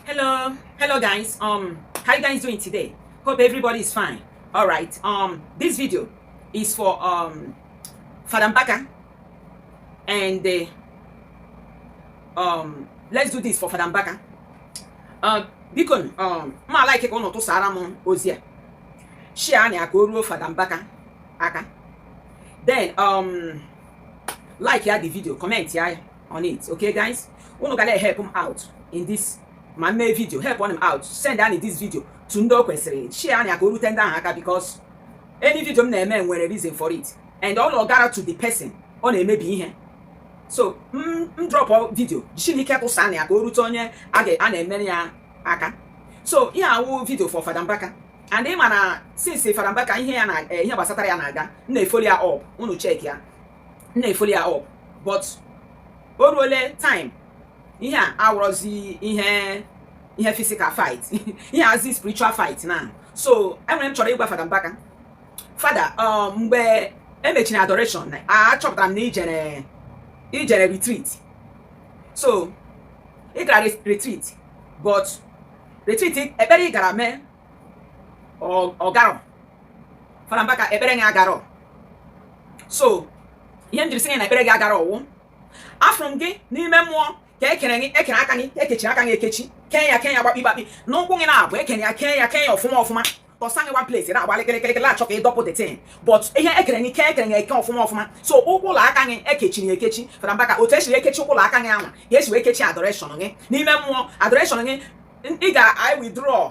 Hello, hello guys. Um, how you guys doing today? Hope everybody is fine. All right. Um, this video is for um, Father Mbaka and the uh, um. Let's do this for Father Mbaka. Uh, biko um, ma like ka ụnụ tụsara m ozi a shia anya ka o ruo Fada Mbaka aka then um, like ya the video comment ya ya on it okay guys unu ga na-help m out in this ma mee video helpụnụ m out sendanụ this video to ndị o kwesịrị shareanụ ya ka o rute ndị ahụ aka because any video m na-eme nwere reason for it and ọ na-agara to the person ọ na-emebi ihe so m drop video chineke tụsa na ya ka o rute onye a na-emere ya aka so ihe a wụ video for Fada Mbaka and ị ma na since Fada Mbaka ihe ya na eh, ihe gbasatara ya na-aga m na-efollow ya up unu check ya m na-efollow ya up but o ruole time ihe a awụrọzi ihe ihe physical fight ihe a wụzi spiritual fight now so e nwere ihe m chọrọ ịgwa fada mbaka fada um, mgbe e mechiri adoration achọpụtara m na i jere i jere retreat so ị gara retreat but retreat ekpere ị gara mee ọ garọ Fada Mbaka ekpere gị agarọ so ihe m jiri sị gị na ekpere gị agarọ wụ afụrụ m gị n'ime mmụọ ka e kere gị e kere aka gị ekechi aka gị ekechi kee ya kee ya gbakpi gbakpi n'ụkwụ gị naabọ e kere ya kee ya kee ya ọfụma ọfụma tọsa gị one place na-agba lịkịlịkịlịkịlị achọ ka ị dọpụ the thing but ihe e kere gị kee e kere gị eke ọfụma ọfụma so ụkwụ la aka gị e kechiri ya ekechi Fada Mbaka otu e siri ekechi ụkwụ la aka gị anwa ka e si wee kechi adoration gị n'ime mmụọ adoration gị ị ga i withdraw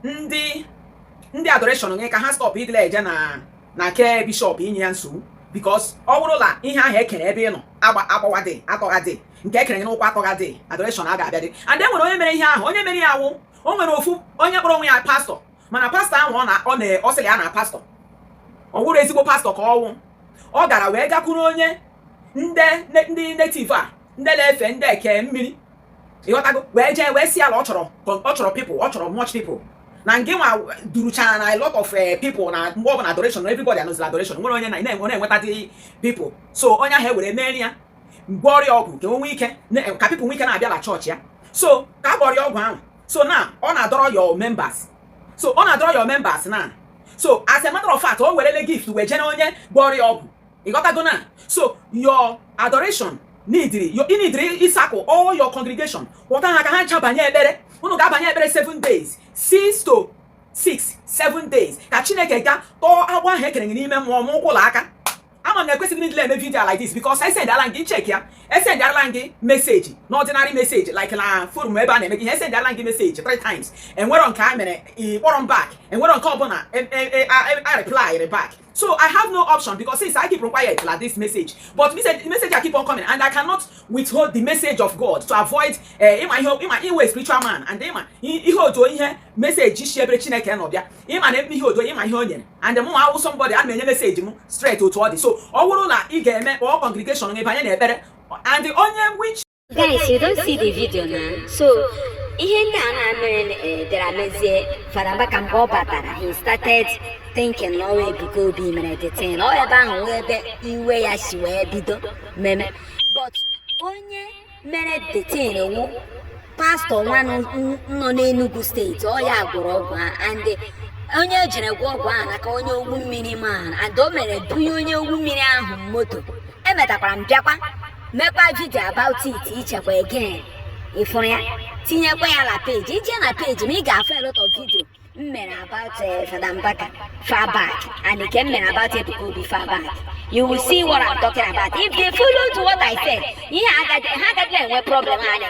ndị ndị adoration gị ka ha stop idile eje na na ke bishop inye ya nsogbu because ọ bụrụ na ihe ahụ e kere ebe ị nọ agbawadị atọghadị nke e kere n'ụkwụ atọghadị adoration aga-abịadị and e nwere onye mere ihe ahụ onye mere ya wụ o nwere ofu onye kpọrọ onwe ya pastor mana pastor ahụ ọ na ọ sịrị ya na pastor ọ wụrọ ezigbo pastor ka ọ wụ ọ gara wee gakwuru onye ndị native a ndị na-efe ndị eke mmiri ị ghọtago wee jee wee sị ya la ọ chọrọ ọ chọrọ people ọ chọrọ much people na ngị nwa duruchara a lot of eh, people na mgbe ọbụla adoration everybody anọzi la adoration o nwerọ onye na na-enwetadị people so onye ahụ ewee meere ya gwọọrọ ya ọgwụ ka o nwee ike ka people nwee ike na-abịa na chọọchị ya so ka a gwọrọ ya ọgwụ ahụ so now ọ na-adọrọ your members so ọ na-adọrọ your members now so as a matter of fact o werele gift wee jee na onye gwọrọ ya ọgwụ ị ghọtago now so your adoration needịrị ị needịrị ịsakọ all your congregation kpọta ha ka ha ncha banye ekpere unu ga-abanye ekpere 7 days 6 to 6 7 days ka chineke ga tọọ agbụ ahụ e kere n'ime mmụọ n'ụkwụ la aka ama m na ekwesịghị m idile eme video like this because esendala m gị check ya esendala m gị message not ordinary message like na forum ebe a na-eme ihe esendala m gị message 3 times e nwerọ nke a mere ị kpọrọ m back e nwerọ nke ọbụla a replyrị e, e, e, back so i have no option because since i keep quiet like this message but message a keep on coming and i cannot withhold the message of god to avoid eh, ịma ihe ịma iwe spiritual man and ịma ihe otu ihe message si ebere chineke nọ bịa ịma na ihe otu ịma ihe o nyere and mụ awụ somebody a na-enye message m straight otu ọ dị so ọ bụrụ na ị ga-eme kpọọ congregation gị banye na ekpere and onye which Guys, you don see the video na so ihe ndị a na-emere eh, bịara mezie Fada Mbaka mgbe ọ batara he started thinking na ọ wụ Ebuka Obi mere the thing ọ ebe ahụ wụ ebe iwe ya si wee bido meme but onye mere the thing wu pastọ nwa nọ n'Enugu steeti ọ ya gwọrọ ọgwụ ahụ and onye ejere gwọ ọgwụ ahụ n'aka onye ogwu mmiri man and o mere bunye onye ogwu mmiri ahụ moto emetakwara m bịakwa mekwa vidio about it ichekwa again ịfụrụ ya tinyekwa ya na peji i je na peji m a ị ga-afụ a lot of video m mere about eh, Fada Mbaka far back and nke m mere about Ebuka Obi far back you will see what I'm talking about if they follow to what I said ihe ha agaghị enwe problem anya